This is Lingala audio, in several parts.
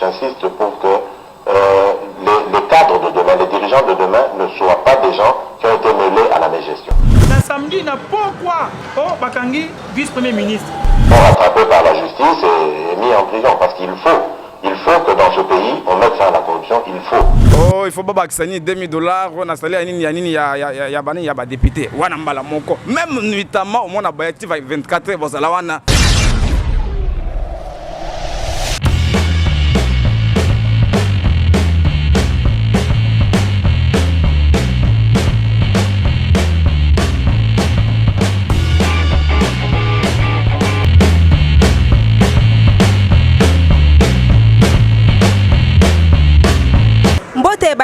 J'insiste pour que les les cadres de demain, les dirigeants de demain ne soient pas des gens qui ont ete meles à la megestion. Na samedi na pokwa o bakangi vice premier ministre. Fort rattrape par la justice et mis en prison parce qu'il faut il faut que dans ce pays on mette fin à la corruption il faut. Oh il faut babakisa nini 2000 dollars wana sali ya nini ya nini ya ya ya ba nini ya ba depute wana mbala moko meme nuitamment omona ba active 24 heures bozala wana.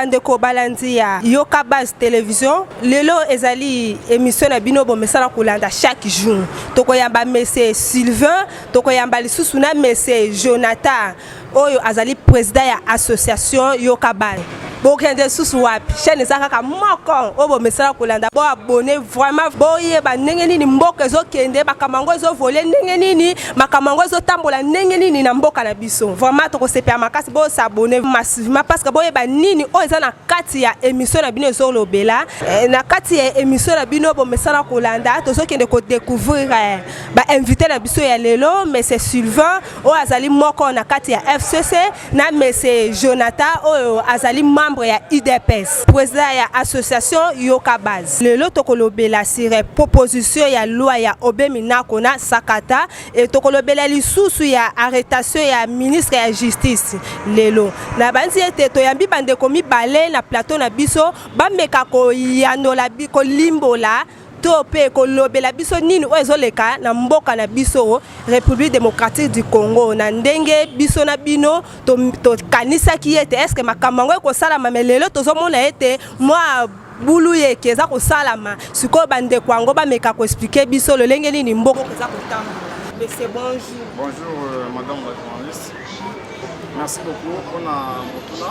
bandeko balandi ya yoka base television lelo ezali émission na bino bomesana kolanda chaque jour tokoyamba mese sylvain tokoyamba lisusu na mese jonathan oyo azali président ya association yoka bana bokende lisusu wapi chaîne eza kaka moko oyo bomesana kolanda bo abonne vraiment boyeba ndenge nini mboka ezokende makambo yango ezovole ndenge nini makambo yango ezotambola ndenge nini na mboka na biso vraiment tokosepela makasi bosabone massivement parce que boyeba nini oyo eza na kati ya émission na bino ezolobela eh, na kati ya émission na bino bomesana kolanda tozokende kodecouvrir eh, ba invité na biso ya lelo monsieur Sylvain oyo azali moko na kati ya FCC na monsieur Jonathan oyo azali membre ya UDPS président ya association Yoka Base lelo tokolobela sur proposition ya loi ya Obe Minako na Sakata et tokolobela lisusu ya arrestation ya ministre ya justice lelo na banzi ete toyambi bandeko mibale na plateau na biso bameka koyanola kolimbola to mpe kolobela biso nini oyo ezoleka na mboka na biso république démocratique du congo na ndenge biso na bino tokanisaki to ete estce makambo yango ekosalama me lelo tozomona ete mwa bulu yeke eza kosalama sikoyo bandeko yango bameka koexplike biso lolenge nini mboka eza kotamba monsieur bonjour bonjour euh, madame la journaliste merci beaucoup mpona motuna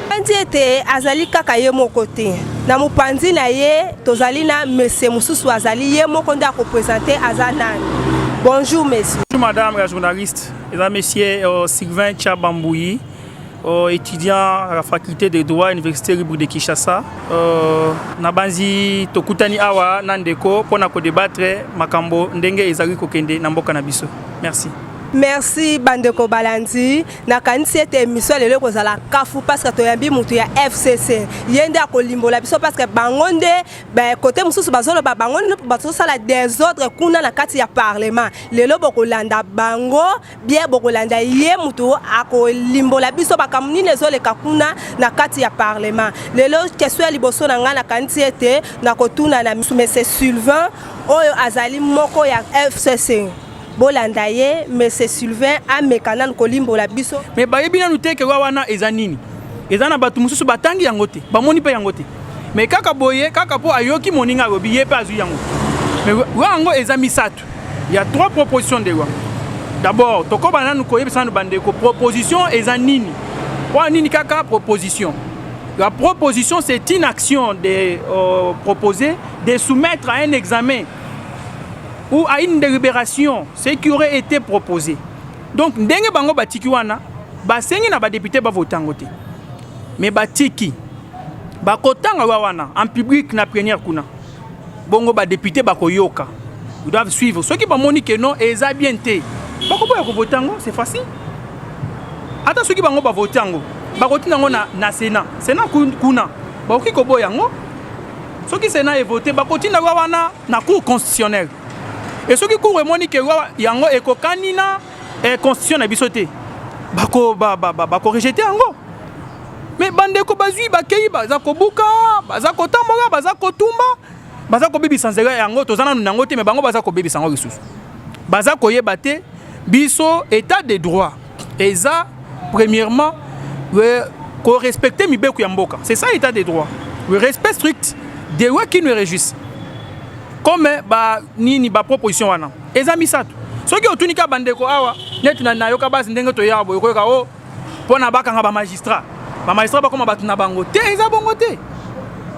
Tokanisi ete azali kaka ye moko te. Na mopanzi na ye tozali na mese mosusu azali ye moko nde akopresente aza nani. Bonjour monsieur. Bonjour madame la journaliste. Eza monsieur euh, Sylvain Chabambouyi, euh, étudiant à la faculté de droit à l'université libre de Kinshasa. Euh, nabanzi tokutani awa na ndeko mpo na kodebattre makambo ndenge ezali kokende na mboka na biso. Merci. Merci bandeko balandi. nakanisi ete emission ya lelo ekozala kafu parceke toyambi motu ya fcc ye nde akolimbola biso parceke bango nde kote mosusu bazoloba bango nde bazosala desordre kuna na kati ya parlement lelo bokolanda bango bie bokolanda ye motu akolimbola biso makambo nini ezoleka kuna na kati ya parlement lelo kestion ya liboso na ngai nakanisi ete nakotuna na mese sylvain oyo azali moko ya fcc bolanda ye monsieur Sylvain ameka nanu kolimbola biso mais bayebi nanu te ke wana eza nini eza na bato mosusu batangi yango te bamoni mpe yango te mais kaka boye kaka mpo ayoki moninga alobi ye mpe azwi yango mais wa yango eza misato ya trois proposition de loi d'abord tokoba nanu koyebisa nanu bandeko proposition eza nini wana nini kaka proposition la proposition c'est une action de euh, proposer de soumettre à un examen ou à une délibération ce qui aurait été proposé donc ndenge bango batiki wana basengi na badepute bavota yango te me batiki bakotanga wa wana en public na première kuna bongo badepute bakoyoka ils doivent suivre soki bamoni ke non eza bien te bakoboya kovota yango c'est facile ata soki bango bavoti yango bakotina yango na, na sénat sénat kuna bakoki koboya yango soki sénat evote bakotina wa wana na cour constitutionnelle e soki cour emoni ke yango ekokani na eh, constitution na biso te bakorejete ba, ba, ba, ba yango me bandeko bazwi bakei baza kobuka baza kotambola baza kotumba baza kobebisa nzela yango toza nanu nango te me bango baza kobebisa yango lisusu baza koyeba te biso état de droit eza premièrement euh, ko respecter mibeko ya mboka c'est ça état de droit we respect strict des lois qui nous réjouissent comme euh, ba nini ba proposition wana eza misato soki otuni ka bandeko awa neti na nayoka basi ndenge toyaka boye koyoka o oh, mpo na bakanga bamagistrat bamagistrat bakoma bato na bango te eza bongo te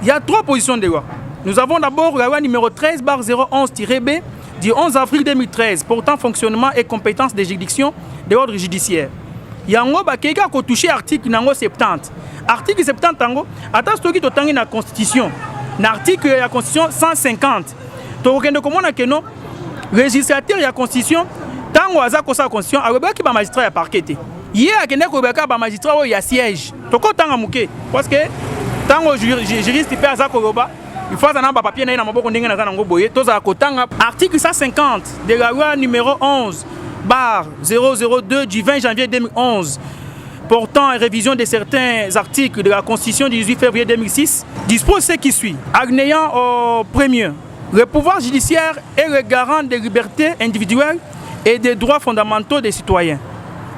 ya trois position de loi nous avons d'abord la loi numéro 13 bar 011 b du 11 avril 2013 portant fonctionnement et compétences des juridictions de l'ordre judiciaire yango bakei kaka kotouche article na yango 70 article 70 yango ata soki totangi na constitution na article ya constitution 150 tokokende komona keno registrateur ya constitution ntango aza kosala constitution ayebaki bamagistrat ya parquet te ye akendaki koyeba kaka bamagistrat oyo ya siège tokotanga moke parce que ntango juriste mpe aza koloba il faut aza na bapapier na ye na maboko ndenge naza nango boye tozala kotanga article 150 de la loi numéro 11 bar 002 du 20 janvier 2011 portant révision de certains articles de la Constitution du 18 février 2006 dispose ce qui suit. Agnéant au premier, le pouvoir judiciaire est le garant des libertés individuelles et des droits fondamentaux des citoyens.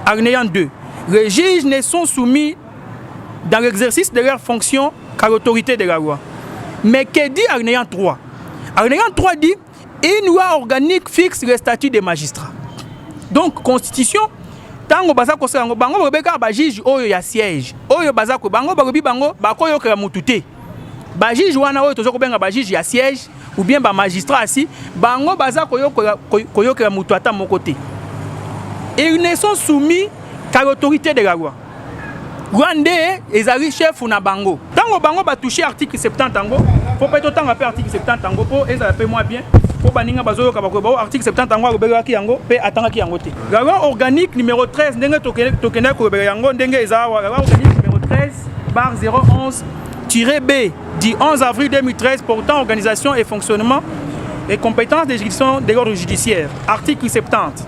Agnéant 2, les juges ne sont soumis dans l'exercice de leur fonction car autorité de la loi. Mais que dit Agnéant 3 Agnéant 3 dit une loi organique fixe le statut des magistrats. Donc, constitution, tango baza kosala yango bango bakobeka bajuge oyo ya siège oyo baza ko bango bakobi bango bakoyokela motu te bajuge wana oyo toza kobenga bajuge ya siège ou bien bamagistrat asi bango baza koyokela motu ata moko te ils ne sont soumis qu'à l'autorité de la loi Rwande ezali chef na bango. Tango bango ba toucher article 70 yango, faut pas totanga pe article 70 yango po ezala pe moi bien. Po baninga bazoyoka bakoyeba o oh, article 70 yango alobelaki yango pe atangaki yango te. La loi organique numéro 13 ndenge tokendaki kolobela yango ndenge eza awa la loi organique numéro 13 bar 011 B du 11 avril 2013 portant organisation et fonctionnement et compétences des juridictions de l'ordre judiciaire. Article 70.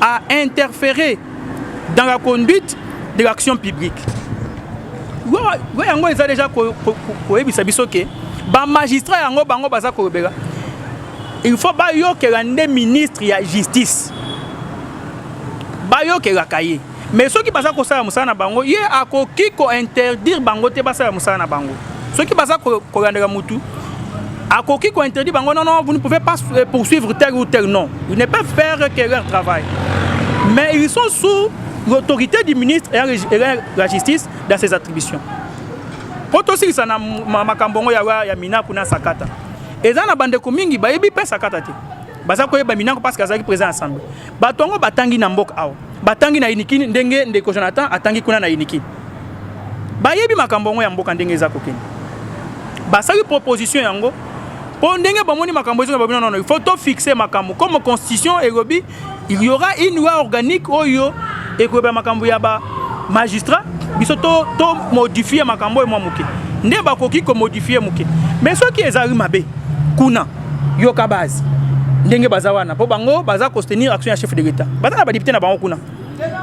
a interfere dans la conduite de l'action publique loi yango eza deja koyebisa biso ke bamagistrat yango bango baza kolobela il faut bayokela nde ministre ya justice bayokelaka ye mais soki baza kosala mosala na bango ye akoki kointerdire bango te basala mosala na bango soki baza kolandaka mutu akoki kointerdire bango non non vous ne pouvez pas euh, poursuivre tel ou tel non ils ne peuvent faire que leur travail mais ils sont sous l'autorité du ministre et la justice dans ses attributions mpo tosilisa na makambo yango ya, ya minaku na sakata eza na bandeko mingi bayebi mpe sakata te baza koyeba minaku parce que azalaki président assemblée bato yango batangi na mboka awa batangi na inikini ndenge ndeko jonathan atangi kuna na inikini bayebi makambo yango ya mboka ndenge eza kokende basali proposition yango mpo ndenge bamoni makambo ezonga babino nono il faut to fixe makambo comme constitution elobi il y aura une loi organique oyo ekoloba makambo ya ba magistrat biso to, to modifie makambo oyo mwa moke nde bakoki komodifie moke mais soki ezali mabe kuna yoka base ndenge baza wana mpo bango baza kostenir action ya chef de l'etat baza na badepute na bango kuna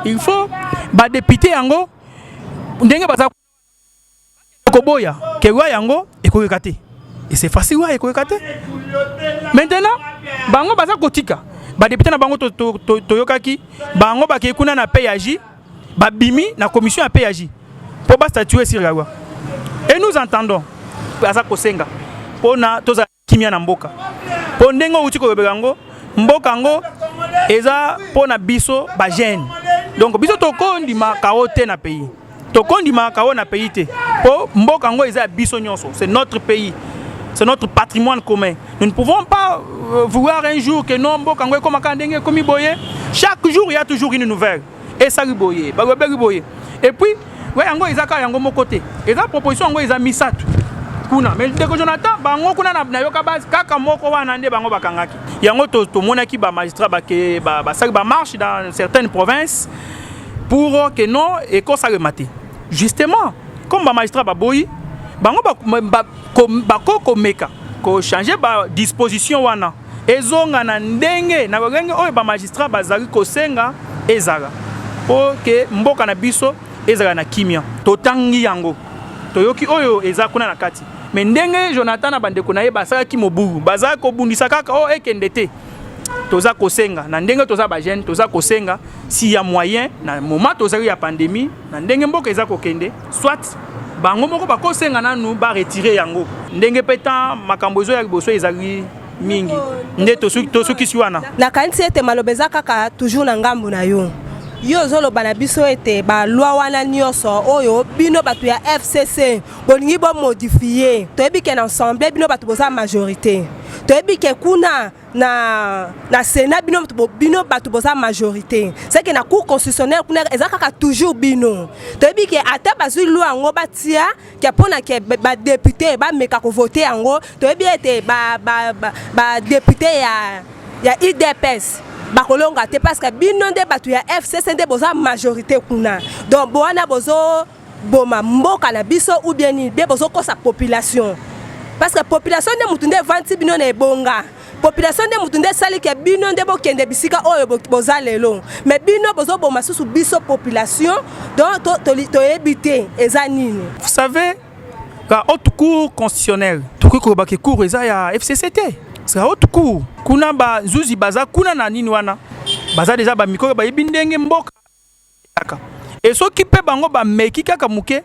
il faut badepute yango ndenge baza koboya ke loi yango ekoyoka te ese facile loi ekoyoka te maintenant bango baza kotika badepute na bango toyokaki to, to, to bango bakei kuna na page babimi na commission ya PAJ mpo ba statuer sur la loi et nous entendons aza kosenga mpo na tozala kimia na mboka mpo ndenge outi kolobela yango mboka yango eza mpo na biso bagene donc biso tokondima kao te na pays tokondima kao na pays te mpo mboka yango eza ya biso nyonso c'est notre pays c'est notre patrimoine commun Nous ne pouvons pas euh, vouloir un jour que non mboka yango ekoma kaka ndenge ekomi boye. Chaque jour il y a toujours une nouvelle. Esali boye, balobeli boye. Et puis we yango eza kaka yango moko te. Eza proposition yango eza misato kuna mais ndeko jonathan bango kuna nayoka base kaka moko wana nde bango bakangaki yango tomonaki to bamagistrat basali ba, ba, ba bamarche dans certaines provinces pour que non ekosalema te justement comme bamagistrat baboyi bango ba, ba, Bako komeka ko changer ba disposition wana ezonga na ndenge na lolenge oyo ba magistrat bazali kosenga ezala po ke mboka na biso ezala na kimia. Totangi yango, toyoki oyo eza kuna na kati, me ndenge Jonathan na bandeko na ye basalaki mobulu, bazalaki kobundisa kaka o oh, ekende te toza kosenga na ndenge toza ba jeune toza kosenga si ya moyen na moment tozali ya pandemie na ndenge mboka eza kokende soit bango moko bakosenga nanu ba retire yango ndenge mpe temps makambo ezoya liboso ezali mingi nde tosukisi wana nakanisi ete maloba eza kaka toujours na ngambo na yo yo ozoloba na biso ete balwa wana nyonso oyo bino bato ya fcc bolingi bomodifie toyebi ke na ensemble bino bato boza majorité toyebi ke kuna na na sena bino bino bato boza majorité seke na cour constitutionnelle kuna eza kaka toujours bino toyebi ke ata bazwi lwa yango batia ke mpo na ke badepute bameka kovote yango toyebi ete badepute ba, ba, ba ya, ya idps bakolonga te parce que bino nde bato ya fcc nde boza majorité kuna donc bowana bozo boma mboka na biso ou bien nini bie bozokosa population parce que population nde motu nde evandisi bino na ebonga population nde motu nde esali ke bino nde bokende bisika oyo boza lelo me bino bozoboma susu biso population donc toyebi to, to te eza nini vous savez la haute cour constitutionnelle tokoki koloba ke cour eza ya fcc te la haute cour kuna bazuzi baza kuna na nini wana baza deja bamikolo bayebi ndenge mboka Kaka. Et soki pe bango ba meki kaka muke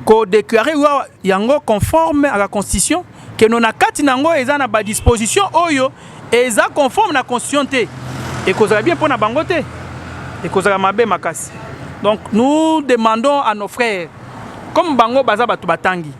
ko déclarer loi yango conforme à la constitution que non na kati nango eza na ba disposition oyo eza conforme na constitution te et kozala bien pona bango te et kozala mabe makasi. Donc nous demandons à nos frères comme bango baza batu batangi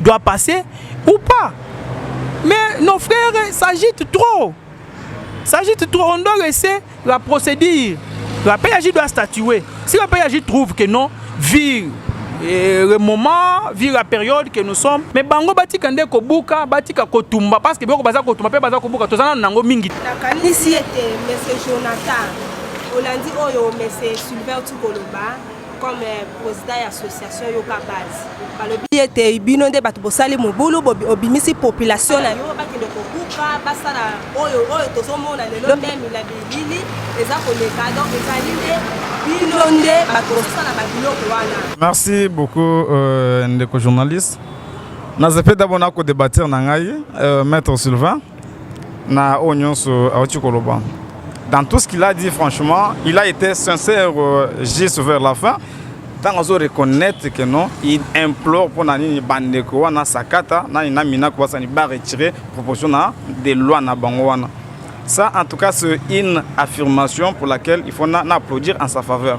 doit passer ou pas. Mais nos frères s'agitent trop. S'agitent trop. On doit laisser la procédure. La PAJ doit statuer. Si la PAJ trouve que non, vire euh, le moment, vire la période que nous sommes. Mais bango batika nde kobuka, batika kotumba parce que boko baza kotumba pe baza kobuka tozana nango mingi. Nakanisi ete monsieur Jonathan olandi oyo monsieur Sylvain Tukoloba comme euh, président ya association yoka base balobi ete bino nde bato bosali mobulu obimisi population na yo bakende kobuka basala oyo oyo tozomona lelo nde mila bilili eza koleka donc ezali nde bino nde bato bosala babiloko wana merci beaucoup euh, ndeko journaliste nazepeda bona kodebatir na ngai euh, maître sylvain na oyo nyonso auti koloba dans tout ce qu'il a dit franchement il a été sincère euh, juste vers la fin ntango azo reconnaître que non il implore mpo na nini bandeko wana sakata nani na minako basani ba retire proposition na de loi na bango wana ça en tout cas c'est une affirmation pour laquelle il faut na, na applaudir en sa faveur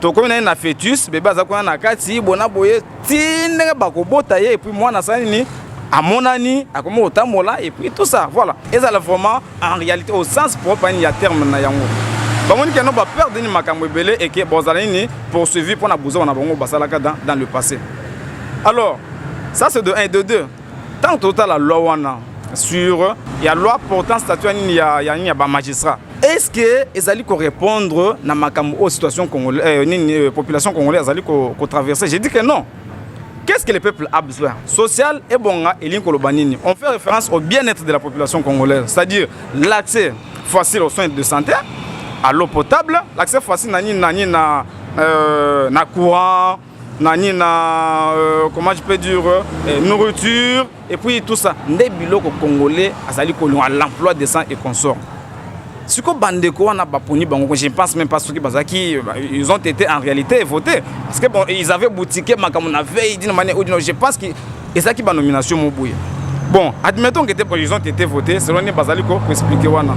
tokomi na ye na fetus bebe aza kuna na kati bona boye ti ndenge bakobota ye epuis mwana asali nini amonani akomi kotambola epuis tout ça voilà ezala vraiment en réalité au sens propre ani ya terme na yango bamoni keno baperde nini makambo ebele eke bozala nini poursuivi mpo na buzoba na bango basalaka dans le passé alors ça c'est de 1 et de 2 ntango totala loi wana sur ya loi portant statut ya nini ya, ya, ya bamagistrat est ce que ezali korépondre na makambo oyo situation congolais, euh, nini, euh, population congolais azali kotraverse ko je dis que non qu'est ce que le peuple a besoin social ebonga elingi koloba nini on fait référence au bien-être de la population congolaise c'est à dire l'accès facile aux soins de santé à l'eau potable l'accès facile na nini na nini na, euh, na courant na nini na euh, comment je peux dire euh, euh, nourriture et puis tout ça nde biloko congolais azali kolonga l'emploi décent et consort siko bandeko wana baponi bango je pense même pas soki bazalaki ils ont été en réalité voté parce que bon ils avaient boutiqué makambo na veille dina mane odino je pense que ezalaki ba nomination mo boye bon admettons que te président te te voté selon nini bazali koexplike wana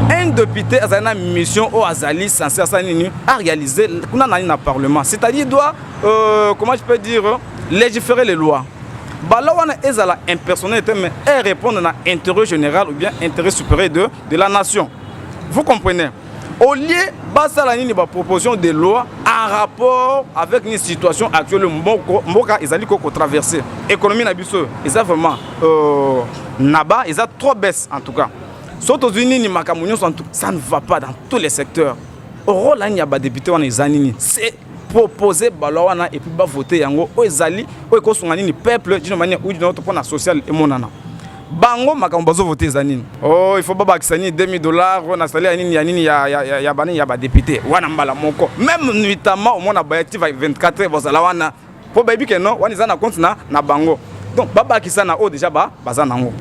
un député azali na mission oyo azali censé asala nini aréalise kuna nani na parlement c'est-à-dire doit euh, comment je peux dire légiférer les lois bala wana ezala impersonnel te mais e répondre na intérêt général ou bien intérêt supérieur de, de la nation vous comprenez au lieu basala nini ba proposition de loi en rapport avec une situation actuelle mboko mboka ezali ko traverser économie na biso eza vraiment euh, naba eza trop baisse en tout cas so tozwi nini makambo nyonso ça ne va pas dans tous les secteurs rôle ani ya badepute wana eza nini c'est proposer balwa wana et puis ba voter yango oyo ezali oyo ekosunga nini peuple d'une manière ou d'une autre mpona social emonana bango makambo bazo voter eza nini oh il faut babakisa nini 2000 dollars oyo nasali ya nini ya nini ya, ya, ya, ya banini ya badepute wana mbala moko meme nuitamment omona bayati 24 heures bazala wana mpo bayebi ke non wana eza na compte na, na bango donc babakisa na oyo deja ba, baza nango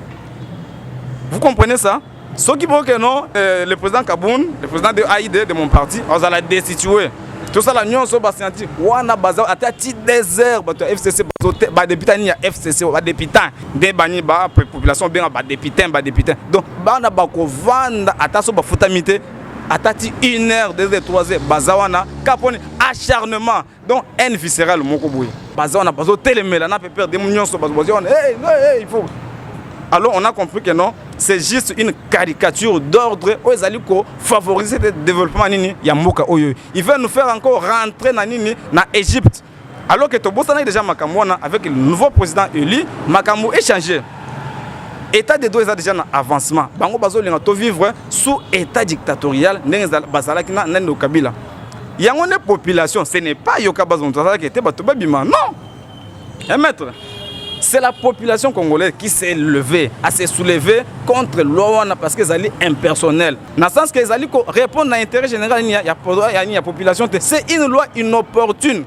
vous comprenez ça soki boke non euh, le président kabun le président de aide de mon parti azala destitue tosala nyonso basianti wana baza ata ti désert bato ya fcc badepita nini ya fcc badepita nde bani ba population obenga badepita badepita donc bana bakovanda ata so bafutami te ata ti une heure deux heures trois heures baza wana ka mponi acharnement donc haine viscérale moko boye baza wana bazotelemela na pepere demu nyonso bazobazi wana hey, hey, il faut alors on a compris que non c'est juste une caricature d'ordre oyo ezali kofavoriser te développement nini ya mboka oyo il veut nous faire encore rentrer na nini na égypte alors que tobosanaki déjà makambo wana avec le nouveau président élu makambo échange état de droit eza déjà na avancement bango bazolinga tovivre sous état dictatorial ndenge bazalaki na nani kabila yango nde population ce n'est pas yoka bazo moto azalaki ete bato babima non eh maître c'est la population congolaise qui s'est levée à se soulever contre loi wana parce que ezali impersonnel na sens que ezali ko répondre na intérêt général nini ya, ya, ya, ya population te c'est une loi inopportune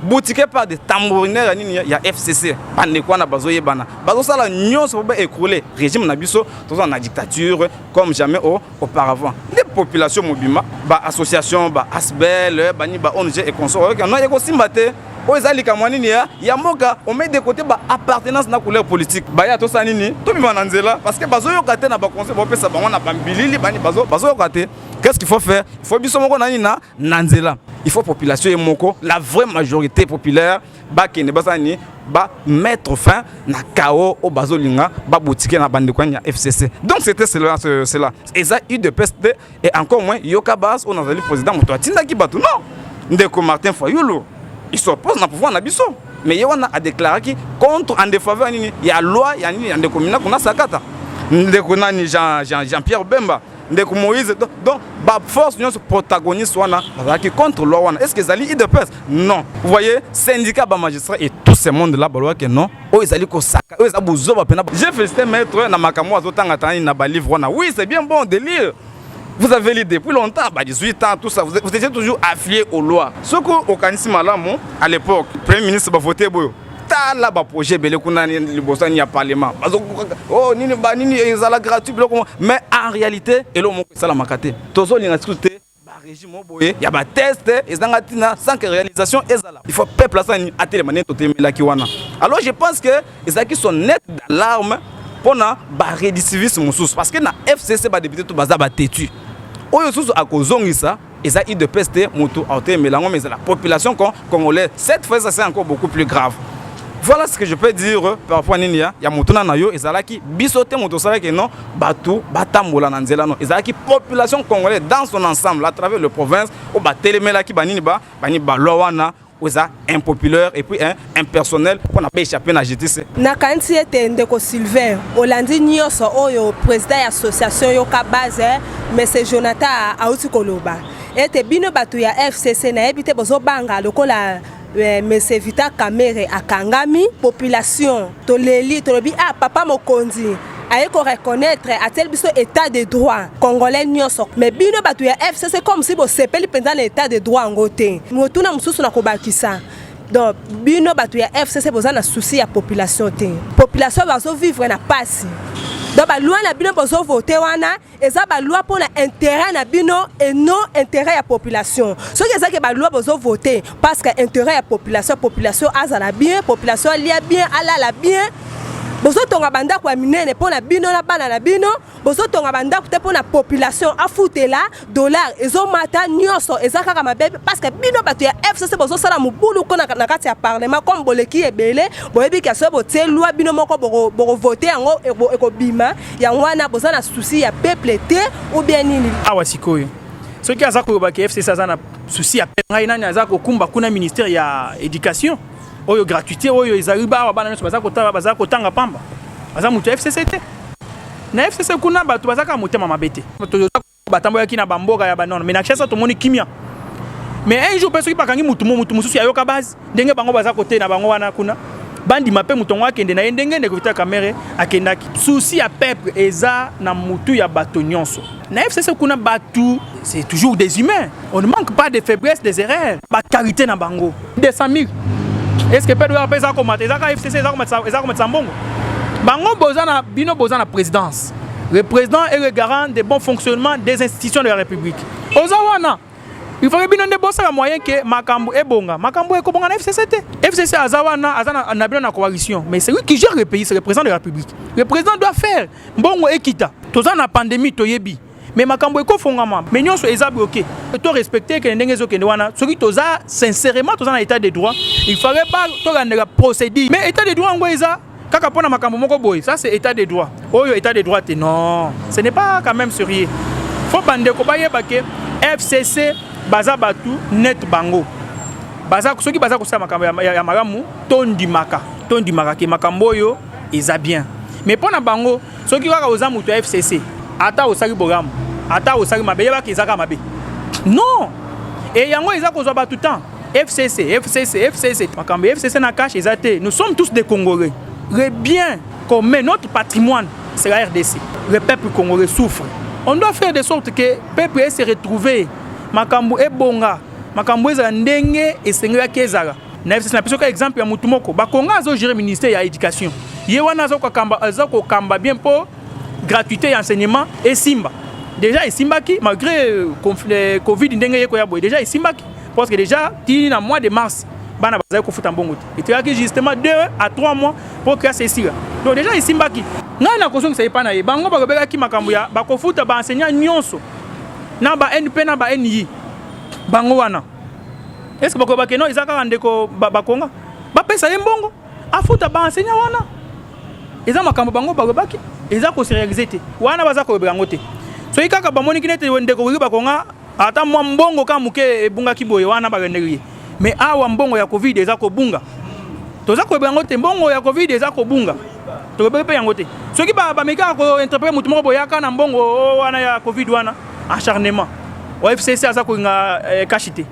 boutike par de tambouriner ya nini ya fcc bandeko wana bazoyebana bazosala nyonso po baécroule régime na biso tozala na dictature comme jamais au auparavant nde population mobimba ba association ba asbel bani ba ong et consort oyoki no ekosimba te oyo eza likambo nini ya ya mboka omei de côté ba appartenance na couleur politique baya tosala nini tobima na nzela parce que bazoyoka te na baconseil bopesa bango na bambilili bani bazoyoka te qu'est ce qu'il faut faire il faut biso moko na nini na na nzela il faut population ye moko la vraie majorité populaire bakende basala nini ba mettre fin na chaos oyo bazolinga babotike na bandeko ya fcc donc c'était cela cela eza udps te et encore moins yoka bas oyo nazali président moto atindaki bato non ndeko martin fayulu il s'oppose na pouvoir na biso mais ye wana adéclaraki contre en défaveur nini ya loi ya nini ya ndeko minako na sakata ndeko nani jean, jean, jean pierre bemba ndeko moïse donc baforce nyonso protagoniste wana bazalaki contre loi wana est ce que ezali idps non vous voyez syndicat bamagistrat et tout ce monde là balobaki non oyo ezali kosaka oyo eza bozoba mpena je félicité maître na makambo azotanga tangani na balivre wana oui c'est bien bon de lire vous avez lu depuis longtemps, bah 18 ans, tout ça, vous, vous étiez toujours affilié aux lois. Ce qu'on organise malamou, à l'époque, Premier ministre va voter Boyo. tala ba projet ebele kuna liboso ya parlement bazokoka oh nini ba nini ezala gratuit biloko mais en réalité eloko moko esalamaka te tozolinga siku te régime oyo boye ya bateste ezanga ntina sans que réalisation ezala il faut peuple asani atelema nde totemelaki wana alors je pense que ezalaki son net d'alarme mpo na bareditiviste mosusu parce que na fcc badepute to baza batetu oyo susu akozongisa eza udps te mutu autemela yango mais eza la population con congolais cette fois ça c'est encore beaucoup plus grave voilà ce que je peux dire euh, par rapport à nini ya, ya motuna na yo ezalaki biso te moto osalaki non bato batambola na nzela no ezalaki population congolais dans son ensemble à travers le province oyo batelemelaki banini ba bani balwa wana oza impopulaire et puis hein, impersonnel mpo na baechappe na justice nakanisi ete ndeko sylvain olandi nyonso oyo président ya association yoka base eh, mese jonathan auti koloba ete bino bato ya fcc nayebi te bozobanga lokola eh, mese vita kamere akangami population toleli tolobi ah papa mokonzi aye ko reconnaître atieli biso état de droit congolais nyonso mais bino bato ya fcc comme si bosepeli mpenza na état de droit yango te motuna mosusu na kobakisa donc bino bato ya fcc boza na souci ya population te population bazovivre na mpasi donc balwa na bino bozovote wana eza ba loi pona intérêt na bino et non intérêt ya population soki eza ke ba loi bozo voter parce que intérêt ya population population azala bien population alia bien alala bien bozotonga bandako ya minene mpo na bino na bana na bino bozotonga bandako te mpo na population afutela dollar ezomata nyonso eza kaka mabe parce que bino bato ya fcc bozosala mobulu ko na kati ya parlement comme boleki ebele boyebi kasi botie lwa bino moko bokovote yango ekobima yango wana boza na souci ya peuple te ou bien nini awa sikoyo soki aza koloba ke fcc aza na souci ya peuple ngai nani aza kokumba kuna ministère ya éducation oyo gratuité oyo ezali bawa bana nyonso baza kotala baza kotanga pamba aza moto ya fcc te na fcc kuna bato bazaka motema mabe te batambolaki na bamboka ya banona mais na kinshasa tomoni kimia mais un jour mpe soki bakangi motu mo motu mosusu ayoka base ndenge bango baza kote na bango wana kuna bandima mpe moto yango akende na ye ndenge ndeko vital kamere akendaki souci ya peuple eza na motu ya bato nyonso na fcc kuna bato c'est toujours des humains On ne manque pas de faiblesse des erreurs, ba qualité na bango. 200 000. Est-ce que Pedro Lopez a commenté Ezaka FCC, Ezaka Matsa, Ezaka Matsa Mbongo. Bango Bozana, Bino Bozana présidence. Le président est le garant des bons fonctionnement des institutions de la République. Ozawana, il faut que bino nde bosala moyen que makambo ebonga. Makambo ekobonga na FCC te. FCC azawana, azana na bino na coalition. Mais c'est lui qui gère le pays, c'est le président de la République. Le président doit faire. Mbongo ekita. Tozana pandémie toyebi. mais makambo ekofongama mais nyonso eza bloqué to respecte ekende ndenge ezokende wana soki toza sincèrement toza na état de droit il fallait ba tolandela procédure mais état de droit yango eza kaka mpo na makambo moko boye ça c'est état de droit oyo état de droit te non ce n'est pas quand même sérieux fo bandeko bayeba ke fcc baza bato net bango baza soki baza kosala makambo ya, ya, ya malamu tondimaka tondimaka ke makambo oyo eza bien mais mpo na bango soki kaka oza moto ya fcc ata osali bolamu ata osali mabe yebaka ezaka mabe non e yango eza kozwa bato temps fcc fcc fcc makambo ya fcc na cache eza te nous sommes tous des congolais le bien commun notre patrimoine c'est la rdc le peuple congolais souffre on doit faire de sorte que peuple ese retrouver makambo ebonga makambo ezala ndenge esengelaki ezala na fcc na biso ka exemple ya mutu moko bakonga azo gérer ministère ya éducation ye wana aza kokamba aza kokamba bien mpo gratuité ya enseignement esimba déjà esimbaki malgré euh, euh, covid ndenge ye koya boye déjà esimbaki parce que déjà ti na mois de mars bana bazali kofuta mbongo te etikaki justement 2 à 3 mois mpo classe esila donc déjà esimbaki ngai nakozongisa epai na ye bango balobelaki makambo ya bakofuta baenseignant nyonso na ba np na ba nii bango wana eske bakoyeba keno eza kaka ndeko bakonga bapesa ye mbongo afuta baenseignant wana eza makambo bango balobaki eza koserealize te wana baza kolobela yango te soki kaka bamoniki nete ndeko koki bakonga ata mwa mbongo kaka moke ebungaki boye wana balendeli ye me awa mbongo ya covid eza kobunga toza kolobela yango te mbongo ya covid eza kobunga tolobeli mpe yango te soki bamekaka kointerprete motu moko boyaka na mbongo oh, wana ya covid wana acharnement oyebi fcc aza kolinga eh, kashi te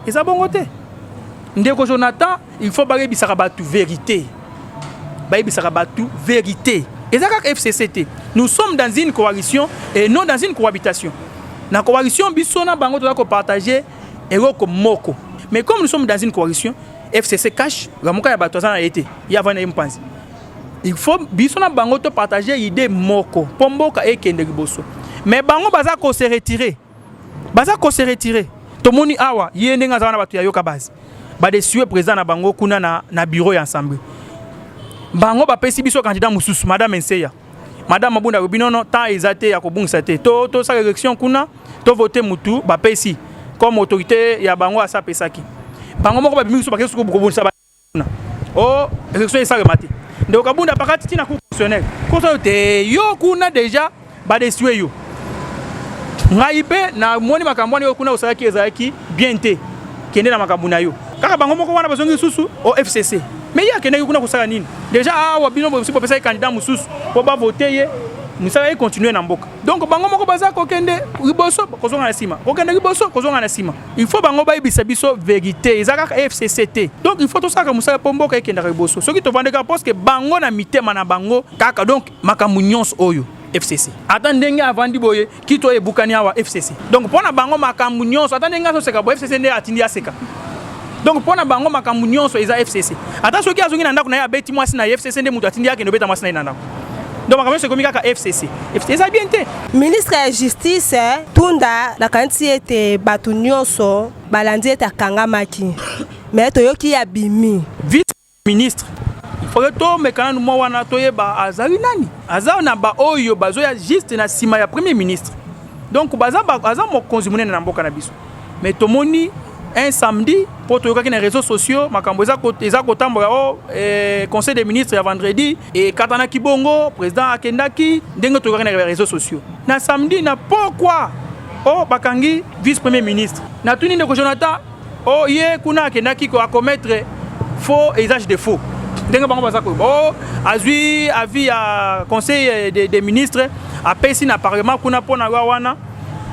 eza bongo te ndeko jonathan il faut bayebisaka bato verité bayebisaka bato verité eza kaka fcc te nous sommes dans une coalition et non dans une cohabitation na coalition biso na bango toza kopartage eloko moko mais comme nous sommes dans une coalition fcc cash lamuka ya bato aza na ye te ye avandi na ye mpanzi il faut biso na bango to partager idée moko mpo mboka ekende liboso mais bango baza ko se retirer baza ko se retirer tomoni awa ye ndenge aza wana bato ya yoka base badesue président na bango kuna na, na bureau ya assemblée bango bapesi biso candidat mosusu madame enseya madame abunda alobi nono temps eza te ya kobungisa te to tosala élection kuna to vote mutu bapesi comme autorité ya bango asapesaki bango moko babimi biso bakei suku kobongisa o oh, election esalema te ndeko kabunda pakati ntina cour constitutionnel kosa yo te yo kuna deja badesue yo ngai mpe namoni makambo wana yo kuna osalaki ezalaki bien te kende na makambo na yo kaka bango moko wana bazongi lisusu o fcc mais ye akendaki kuna kosala nini deja awa bino bosi bopesaki candidat mosusu mpo bavote ye mosala ekontinue na mboka donc bango moko baza kokende liboso kozonga na nsima kokende liboso kozonga na nsima il faut bango bayebisa biso verité eza kaka fcc te donc il faut tosalaka mosala mpo mboka ekendaka liboso soki tovandi kaka parceke bango na mitema na bango kaka donc makambo nyonso oyo fcc ata ndenge avandi boye kito ebukani awa fcc donc mpo na bango makambo nyonso ata ndenge azoseka boye fcc nde atindi aseka donc mpo na bango makambo nyonso eza fcc ata soki azongi na ndako na ye abeti mwasi na ye fcc nde moto atindi akende obeta mwasi na ye na ndako donc makambo nyonso ekomi kaka fcc eza bien te ministre ya justice eh, tunda nakanisi ete bato nyonso balandi ete akangamaki me toyoki ya bimi vice ministre oyo tomeka nanu mwa wana toyeba azali nani aza na baoyo bazoya juste na nsima ya premier ministre donc aza mokonzi monene na mboka na biso mais tomoni un samedi mpo toyokaki na réseaux sociaux makambo eza kotambola o eh, conseil des ministres ya vendredi ekatanaki bongo président akendaki ndenge toyokaki na réseaux sociaux na samedi na pokwa o oh, bakangi vice premier ministre natuni ndeko jonathan o oh, ye kuna akendaki ko acommettre faux usage de faux ndenge bango baza koyeba o oh, azwi avis ya conseil des ministres apesi na parlement kuna mpo na lwa wana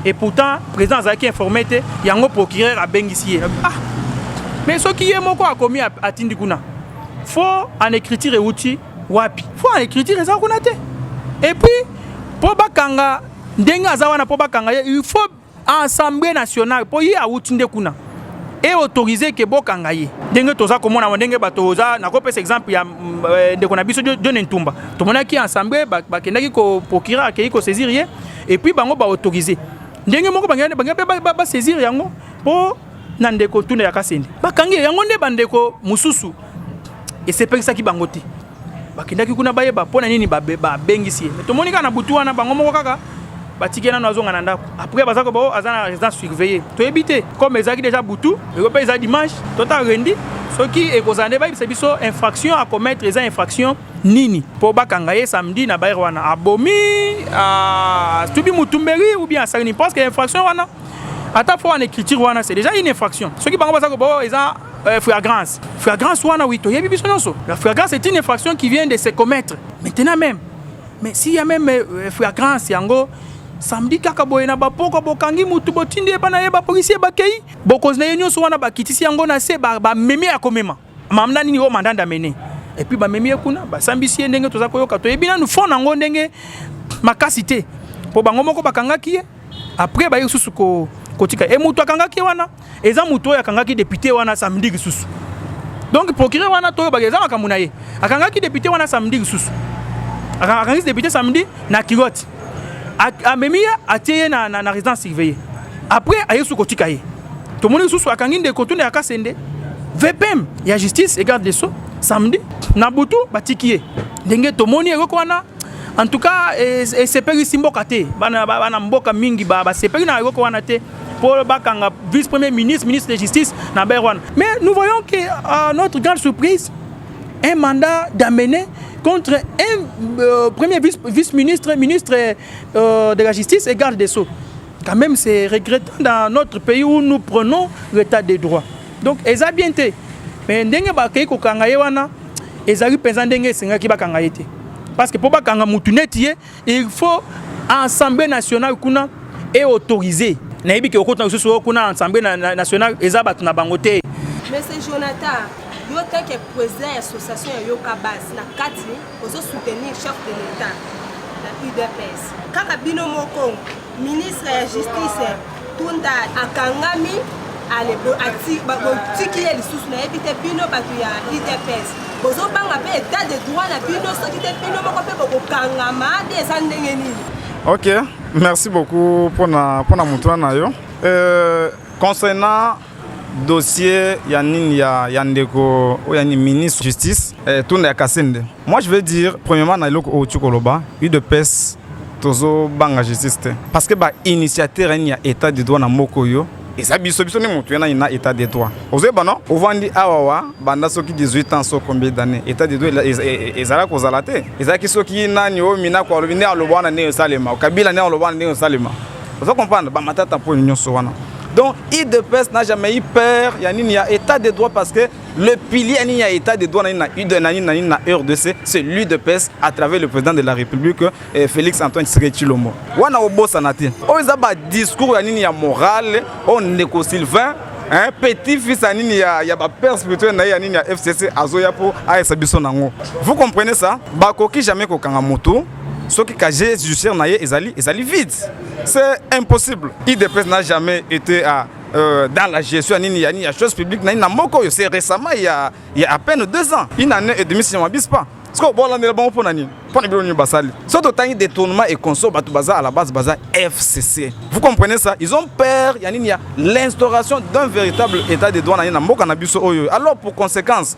et pourtant président azalaki informé te yango procureur abengisi ye ah mais soki ye moko akomi atindi kuna fo en écriture euti wapi fo en écriture eza kuna te et puis mpo bakanga ndenge aza wana mpo bakanga ye il faut assemblée nationale mpo ye awuti nde kuna e autorise ke bokanga ye ndenge toza komona ma ndenge bato oza nakopesa exemple ya mm, eh, ndeko na biso john ntumba tomonaki ensemble bakendaki ko procureur akei kosaisir ye et puis bango ba autoriser ndenge moko bangi bangi ba, ba saisir yango po na ndeko tuna ya kasende bakangi yango nde bandeko mosusu esepelisaki bango te bakendaki kuna bayeba mpo na nini babengisi ye tomoni kaka na butu wana bango moko kaka batiki nano azonga na ndako après baza koba oh, aza na résidence surveillée toyebi te comme ezalaki déjà butu eko mpe eza dimanche tota rendi soki ekozala nde bayebisa biso infraction à commettre eza infraction nini po bakanga ye samedi na baire wana abomi ah, tubi mutumberi ou bien asali nini parce que infraction wana ata fo wana écriture wana c'est déjà une infraction soki bango baza kobo eza euh, flagrance flagrance wana oui toyebi biso nyonso la flagrance c'est une infraction qui vient de se commettre maintenant même mais s'il y a même euh, flagrance yango samedi kaka boye na bapoko bokangi mutu botindi ye bana ye bapolisier bakei bokonzi na ye nyonso wana bakitisi yango na se bamemi ba ya komema mamda nini oyo mandanda mene epuis bamemi ye kuna basambisi ye ndenge toza koyoka toyebi nanu fond yango ndenge makasi te mpo bango moko bakangaki ye apres baye lisusu kotika e moto akangaki ye wana eza moto oyo akangaki depute wana samedi lisusu donc procureur wana toyebaka eza makambo na ye akangaki depute wana samedi lisusu akangaki depute samedi na kilote amemi ye atie ye na, na, na résidence surveillée après aye su kotika ye tomoni lisusu akangi ndeko tuna ya kasende vpm ya justice et garde des sceaux samedi na butu batiki ye ndenge tomoni eloko wana en tout cas esepelisi mboka te bana, bana mboka mingi basepeli na eloko wana te pour le Bakanga, vice-premier ministre, ministre de la Justice, Naber Wan. Mais nous voyons que, à euh, notre grande surprise, un mandat d'amener contre un euh, premier vice-ministre, ministre, euh, de la Justice et garde des Sceaux. Quand même, c'est regrettant dans notre pays où nous prenons l'état des droits. Donc, ils ont bien été. Mais ndenge bakei kokanga ye wana ezali mpenza ndenge esengaki bakanga ye te parce que mpo bakanga mutu neti ye il faut assemblée nationale kuna e autorise nayebi ke okotuna lisusu oyo kuna assemblée nationale eza bato na bango te monsieur jonathan yo teke président ya association ya yoka base na kati ozo soutenir chef de l'état na udps kaka bino moko Ministre ya justice Tunda akangami botiki ye lisusu nayebi te bino bato ya udps bozobanga mpe etat de droit na bino soki te bino moko mpe bokokangama te eza ndenge nini ok merci beaucoup mpona motuna na yo euh, concernant dossier ya nini ya, ya ndeko oyo ya ministre justice eh, tunda ya kasende moi je veux dire premièrement na eloko oyo oki koloba udps tozobanga justice te parce que bainitiateur yani ya état de droit na moko oyo eza biso biso nde motu yana na état de droit ozoyeba no ovandi awa wa banda soki 18 ans so combien d'année état de droit ezala kozala te ezalaki soki nani oyo minako alobi nde aloba wana ndenge esalema kabila nde aloba wana ndenge esalema ozo comprendre bamatata mpo nyonso wana Donc, IDPS n'a jamais eu peur, il y a ni a état de droit parce que le pilier ni a état de droit na na UD na na na RDC, c'est l'UDPS à travers le président de la République eh, Félix Antoine Tshisekedi Tshilombo. Wana obosa na te. O za ba discours ya nini ya morale, on ndeko Sylvain hein, petit fils ya nini ya, ya bapère spirituel na ye ya nini ya fcc azoya mpo ayesa biso nango vous comprenez ça bakoki jamais kokanga moto soki casier judiciaire na ye ezali ezali vide C'est impossible. IDPS n'a jamais été à euh, dans la gestion ya nini ya nini ya chose publique na nini na moko oyo c'est récemment il y a, il y a à peine deux ans une année et demie si je ne m'abuse pas sikoyo bolandela bango mpo na nini mpo na bino nini basali soki totangi détournement et conso bato baza à la base baza fcc vous comprenez ça ils ont peur ya nini ya l'instauration d'un véritable état de droit na ye na mboka na biso oyo alors pour conséquence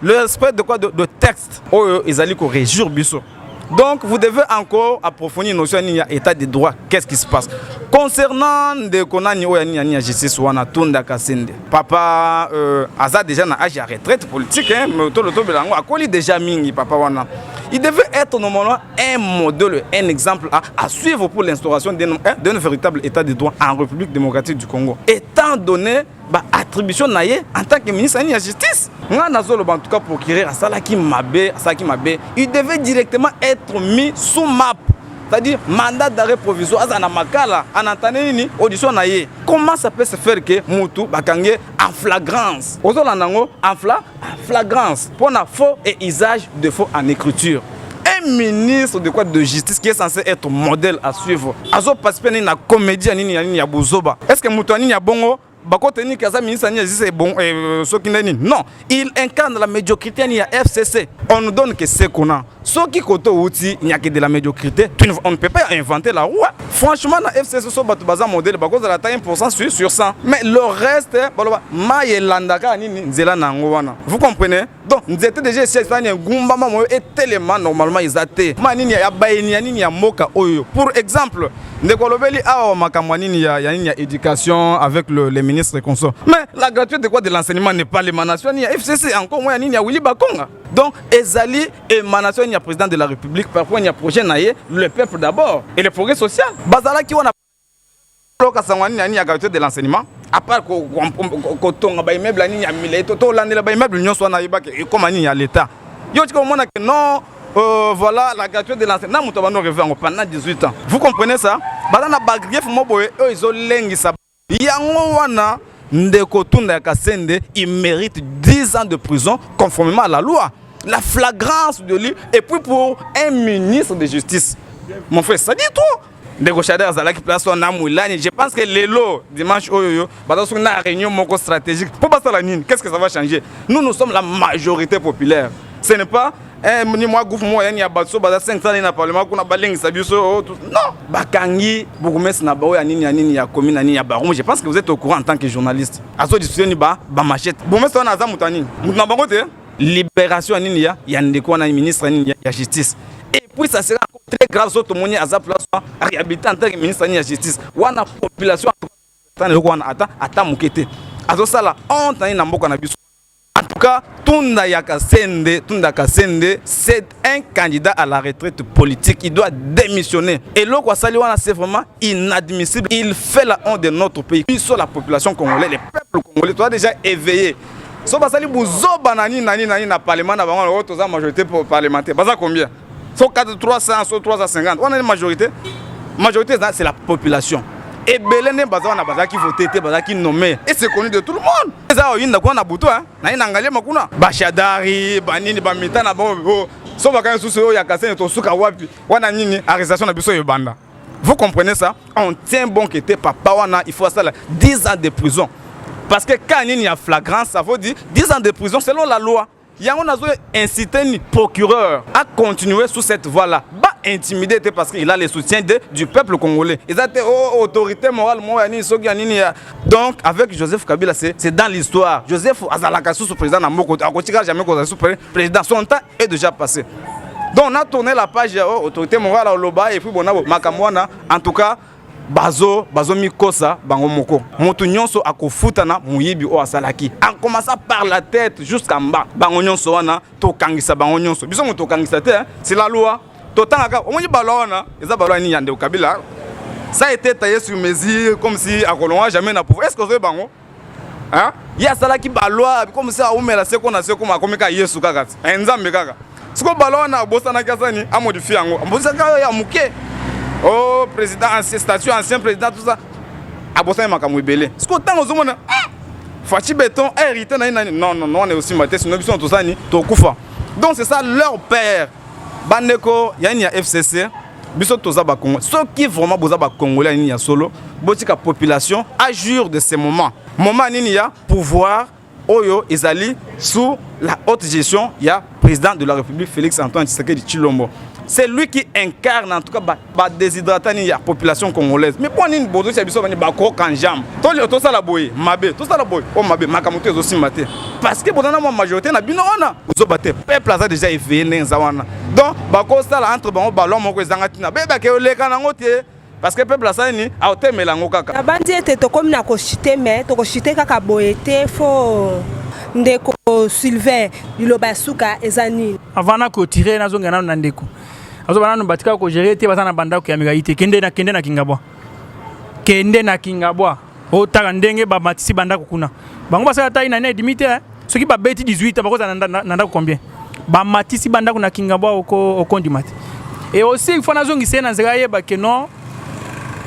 le respect de quoi de, de texte oyo ezali ko régir biso donc vous devez encore approfondir notion nini ya état de droit qu'est-ce qui se passe concernant ndeko nani oyo ya nini ya nini ya justice wana tunda kasende papa euh, aza déjà na age ya retraite politique hein, mais tolo tobela yango akoli déjà mingi papa wana il devait être normalement un modèle un exemple à, à suivre pour l'instauration d'un hein, d'un véritable état de droit en république démocratique du congo étant donné ba attribution na ye en tant que ministre ya justice nga nazoloba en tout cas procureur asalaki mabe asalaki mabe il devait directement être mis sous map c'est-à-dire mandat d'arrêt provisoire aza na makala anantane nini audition na ye comment ça peut se faire que mutu bakange en flagrance ozolanda yango en fla flagrance pour un faux et usage de faux en écriture un ministre de quoi de justice qui est censé être modèle à suivre azo participer nini na comédie ya nini ya nini ya buzoba est ce que moto ya nini ya bongo bakote nini kaza ministre nini azisa bon eh, soki nde nini non il incarne la médiocrité nini ya fcc on nous donne que ce qu'on a soki koto outi nyaki de la médiocrité tu ne, on ne peut pas inventer la roue franchement na FC Soso bato baza modèle bakozala ata 1% sur, sur 100 mais le reste baloba mai elandaka nini nzela na yango wana vous comprenez donc nzete déjà esi esani engumbama moyo etelema normalement eza te ma nini ya bayeni ya nini ya mboka oyo pour exemple ndeko olobeli awa makambo ya nini ya nini ya éducation avec le, les ministres consort mais la gratuité de quoi de l'enseignement n'est pas l'émanation ni ya FCC encore moins ya nini ya Willy Bakonga Donc, Ezali émanation du président de la République par rapport à projet naïe, le peuple d'abord et le progrès social. Bazala qui on a loka sangwani nani ya qualité de l'enseignement à part ko tonga ba immeuble nani ya milai to to landela ba immeuble nyonso wana yebaka ekoma nini ya l'État. Yo tika omona que non euh, voilà la gratuité de l'enseignement moto bando revue en pendant 18 ans. Vous comprenez ça? Bazana ba grief moboye eux ils ont lengisa Yango wana ndeko Tunda ya Kasende il mérite 10 ans de prison conformément à la loi. La flagrance de lui et puis pour un ministre de justice. Mon frère, ça dit trop. ndeko shader azalaki place wana na mwilani je pense que lelo dimanche oyo yo baza soki na réunion moko stratégique mpo basala nini qu'est ce que ça va changer nous nous sommes la majorité populaire ce n'est pas Eh, ni mwa groupe moko yani ya bato so baza 5 sani na parlement kuna balengisa biso oh, non bakangi bourgmestre na bao ya nini ya nini ya commune ya nini ya baron je pense que vous êtes au courant en tant que journaliste azo discussion ni ba ba machette bourgmestre wana aza moto ya nini moto na bango te libération ya nini ya ya ndeko wana ministre ya nini ya justice et puis ça sera encore très grave so tomoni aza place réhabilité en tant que ministre ya nini ya justice wana population ata eloko wana ata ata moke te azosala honte na ye na mboka na biso En tout cas, Tunda Yakasende, Tunda Kasende, c'est un candidat à la retraite politique. Il doit démissionner. Et l'eau Saliwana, c'est vraiment inadmissible. Il fait la honte de notre pays. Puis sur la population congolaise, les peuples congolais, tu as déjà éveillé. So basali buzoba nani nani nani na parlement na bango oyo toza majorité parlementaire. Baza combien? faut 4 300 so 350 wana ni majorité majorité eza c'est la population ebele nde baza wana bazalaki vote te bazalaki nommé et c'est connu de tout le monde eza oyinda kuna na butu naye na ngaliema kuna bashadari banini bamita na bango oh, so bakani susu oyo ya kasene tosuka wapi wana nini arrestation na biso ebanda vous comprenez ça on tient bon que te papa wana il faut asala 10 ans de prison parce que cas nini ya flagrance ça veut dire 10 ans de prison selon la loi yango nazo inciter ni procureur a continuer sous cette voie là ba intimider te parce qu'il a le soutien de, du peuple congolais eza te oh, autorité morale moko ya nini soki ya nini ya donc avec joseph kabila c'est c'est dans l'histoire joseph azalaka susu président na moko akotika jamais kozala susu président son temps est déjà passé donc na tourner la page ya oh, autorité morale oloba et puis bonabo makambo wana en tout cas bazo bazomikosa bango moko moto nyonso akofutana moyibi oyo asalaki akomasa par la tête jusqu'à mba bango nyonso wana tokangisa bango nyonso biso moto tokangisa te sila loi totangaka omoni balwa wana eza balwa nini ya ndeko kabila ça a été taillé sur mesure comme si akolonga jamais na pouvoir est ce que ozoyeba yango hein? ye asalaki balwa biko mose aumela seko na seko makomi kaka yesu kaka ti eh, nzambe kaka siko balwa wana abosanaki asani amodifie yango abosaka yo ya moke o oh, président ancien statut ancien président tout ça abosani makambo ebele siko ntango ozomona ah! faci beton hérité na ye nani non non wana eosimba te sino biso tozani tokufa donc c'est ça leur père bandeko yani ya fcc biso toza ba Congo soki vraiment boza ba Congolais nini ya solo botika population à jour de ce moment moment nini ya pouvoir oyo ezali sous la haute gestion ya président de la République Félix Antoine Tshisekedi Chilombo c'est lui qui incarne en tout cas ba, ba déshydrata nini ya population congolaise mais mpo nini bozotia biso bani bakoka njambe tosala boye mabe tosala boye o mabe makambo to ezosimba te parce que boza na mwa majorité na bino wana zoba te peuple aza déjà éveillé ndenge eza wana donc bakosala entre bango balon moko ezanga ntina beyebaka eleka nango te parce que peuple asali nini aotemela yango kaka nabanzi ete tokomi na koshite me tokoshite kaka boye te fo ndeko sylvain liloba ya suka eza nini avant nakotire nazongela nano na ndeko azoba nano batika kogere te baza na bandako ya mikai te kende na kende na kingabwa kende na kingabwa otala ndenge bamatisi bandako kuna bango basala tai na ina edimi te eh. soki babeti 18 bakozala na ndako combien bamatisi bandako na kingabwa okondima te e aussi il faut nazongisa ye na nzela ayeba ke non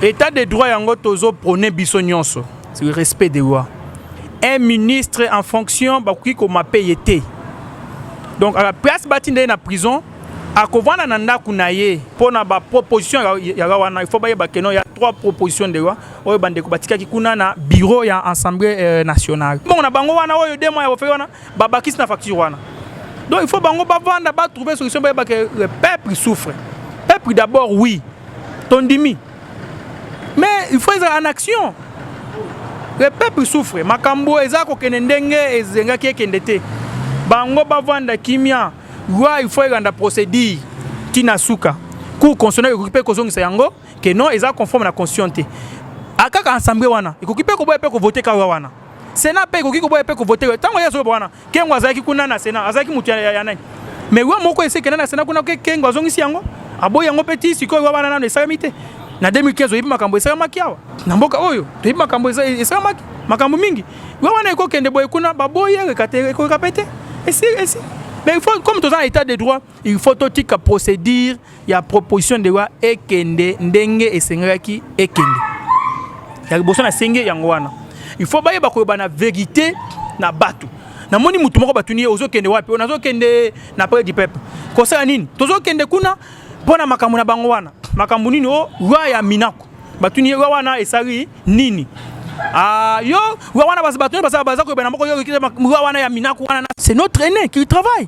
état de droit yango tozo prone biso nyonso le respect de loi un ministre en fonction bakoki komape ye te donc à la place batinda ye na prison akovanda na ndako na ye mpo na baproposition ya loi wana il faut bayeba ke non ya trois proposition de loi oyo bandeko batikaki kuna na bureau ya assemblée euh, nationale bongo na bango wana oyo dema ya bofei wana babakisi na facture wana donc il faut bango bavanda batrouve solution bayeba ke le peuple souffre peuple d'abord oui tondimi mais il faut ezala en action le peuple souffre makambo eza kokende ndenge ezengaki ekende te bango bavanda kimia loi il faut elanda procédure ntina suka cour constitutionnel ekoki mpe kozongisa yango que non eza conforme na constitution te akaka ensemble wana ekoki mpe koboya mpe kovote kawa wana sena mpe ekoki koboya mpe kovote ntango ye azoloba wana kengo azalaki kuna na sena azalaki moto ya nani mais wa moko esekenda na sena kuna kengo azongisi yango aboyi yango mpe ti sikoyo wa wana nano esalami te na 2015 oyebi makambo esalamaki awa na mboka oyo toyebi makambo esalamaki makambo mingi wa wana ekokende boye kuna baboyi ekokeka mpe te esi esi mais il faut comme toza na état de droit il faut totika procédure ya proposition de loi ekende ndenge esengelaki ekende ya liboso nasengi yango wana il faut bayeba koloba na verité na bato namoni motu moko batuni ye ozokende wapi oyo nazokende na près du peuple kosala nini tozokende kuna mpo na makambo na bango wana makambo nini o loi ya minako batuni ye loi wana esali nini Ah, yo, wana baza bato baza koyeba na moko yo loi wana ya minaku wana c'est notre aîné qui travaille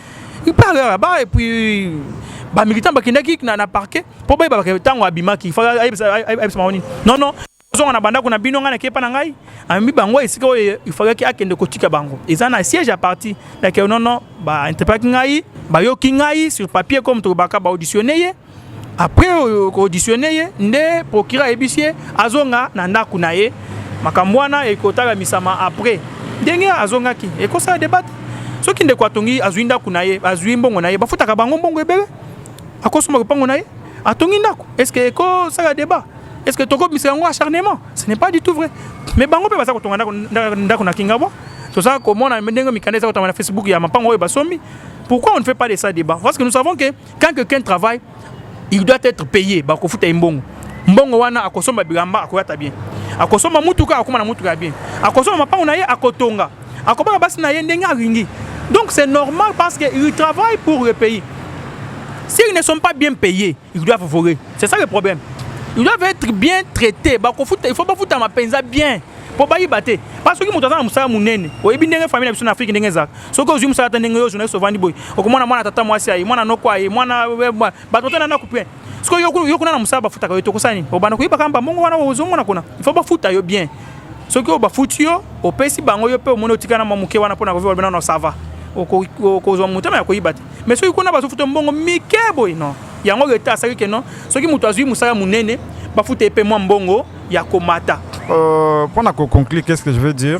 il parle là-bas et puis ba militants bakendaki na na parquet po bayeba baka tango abimaki fa ayebisa ayebisa maoni non non ozonga na bandako na bino ngai nakepa na ngai amemi bango esika oyo ifalaki akende kotika bango eza na siège ya parti yake nono bainterpelaki ngai bayoki ngai sur papier comme tokobaka baauditionne ye après euh, ko auditionner ye nde procureur ayebisi ye azonga na ndako na ye makambo wana ekotalamisama après ndenge azongaki ekosala debate soki ndeko atongi azwi ndako na ye azwi mbongo na ye bafutaka bango mbongo ebele akosomba lopango na ye atongi ndako est ce que ekosala débat est ce que tokobimisa yango acharnement ce n'est pas du tout vrai mais bango mpe baza kotonga ndako na kingabwa toza komona ndenge mikanda eza kotama na facebook ya mapango oyo basombi pourquoi on ne fait pas de ça débat parce que nous savons que quand quelqu'un travaille il doit être payé bakofuta ye mbongo mbongo wana akosomba bilamba akoyata bien akosomba mutuka akoma na mutuka ya bien akosomba mapango na ye akotonga akobaka basi na ye ndenge alingi donc c'est normal parce que il travaille pour le pays s'ils ne sont pas bien payés ils doivent voler c'est ça le problème ils doivent être bien traités bakofuta il faut bafutama mpenza bien mpo bayiba te mpa soki moto aza na mosala monene oyebi ndenge famille na biso na afrike ndenge ezalaka soki ozwi mosala ata ndenge yo journaliste ovandi boye okomona mwana tata mwasi aye mwana noko aye mwana bato batana ndako mpe soki yo kuna na mosala bafutaka yo te okosala nini obanda koyebaka mbambongo wana ozomona kuna ifo bafuta yo bien soki oyo bafuti yo opesi bango yo mpe omoni otikana mwa moke wana mpo na koviva bino na sava okozwa motema ya koyiba te mais soki kuna bazofuta mbongo mike boye non yango leta asali ke non soki moto azwi mosala monene bafuta ye mpe mwa mbongo ya komata euh, mpo na koconclure qu'est ce que je veux dire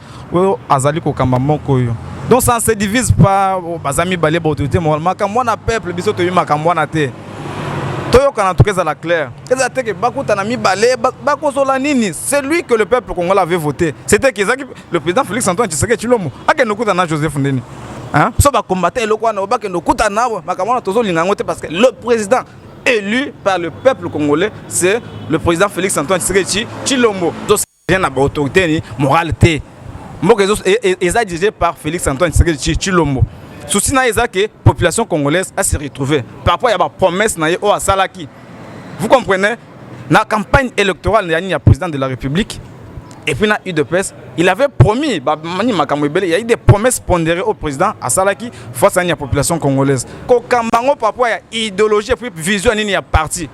oyo azali kokamba moko oyo donc ça se divise pas oh, baza mibale baautorité morale makambo wana peuple biso toyebi makambo wana te toyokana toka ezala clair eza te ke bakutana mibale bakosola nini celui que le peuple congolais avait voté c'était que ezaki le président félix antoine tshiseke tshilombo akende okutana na joseph ndeni biso bakombata eloko wana bakende okutana makambo wana tozolinga yango te parce que le président élu par le peuple congolais c'est le président félix antoine tshisekedi tshilombo Rien na ba autorité ni morale te. Mboka ezo e, e, eza dirigé par Félix Antoine Tshisekedi Chilombo. Souci na eza que population congolaise a se retrouver par rapport ya ba promesses na ye oyo asalaki. Vous comprenez? Na campagne électorale ya nini ya président de la République et puis na UDPS, il avait promis ba mani makambo ebele, il y a eu des promesses pondérées au président asalaki face à la population congolaise. Kokambango par rapport ya idéologie et puis vision nini ya parti.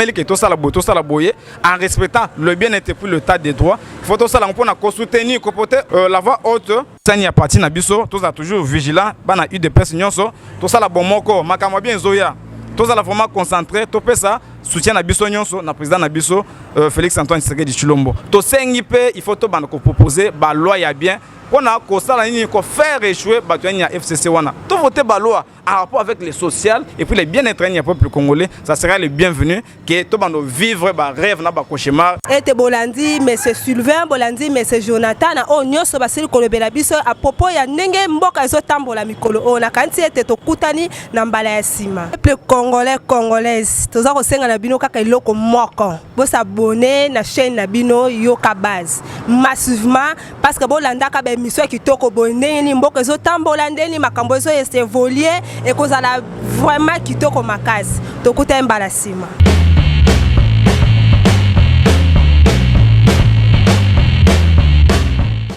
meli ke tosala boye tosala boye en respectant le bien-être puis le tas de droit faut tosala yango mpona kosoutenir kopote euh, la voix haute sani ya parti na biso tozala toujours vigilant bana udps nyonso tosala bomoko makambo ya bien ezoya tozala vraiment concentré topesa soutien na biso nyonso na président na biso euh, félix antoine tshisekedi tshilombo tosengi mpe il faut tobanda kopropose baloi ya bien mpona kosala nini kofaire échouer bato ya nini ya fcc wana tovote baloi en rapport avec le social et puis le bien-être du peuple congolais, ça sera le bienvenu que tout le monde vivre ba rêve na ba cauchemar. Et te bolandi mais c'est Sylvain, bolandi mais c'est Jonathan na o oh, nyoso ba sili kolobela biso à propos ya ndenge mboka ezo tambola mikolo o oh, na kanti ete tokutani na mbala ya sima. Peuple congolais congolaise, toza kosenga na bino kaka eloko moko. Bo s'abonner na chaîne na bino Yoka Base massivement parce que bo landaka ba émission kitoko boye ndenge ni mboka ezo tambola ndenge ni makambo ezo evoluer ekozala vraiment kitoko makasi tokutani mbala sima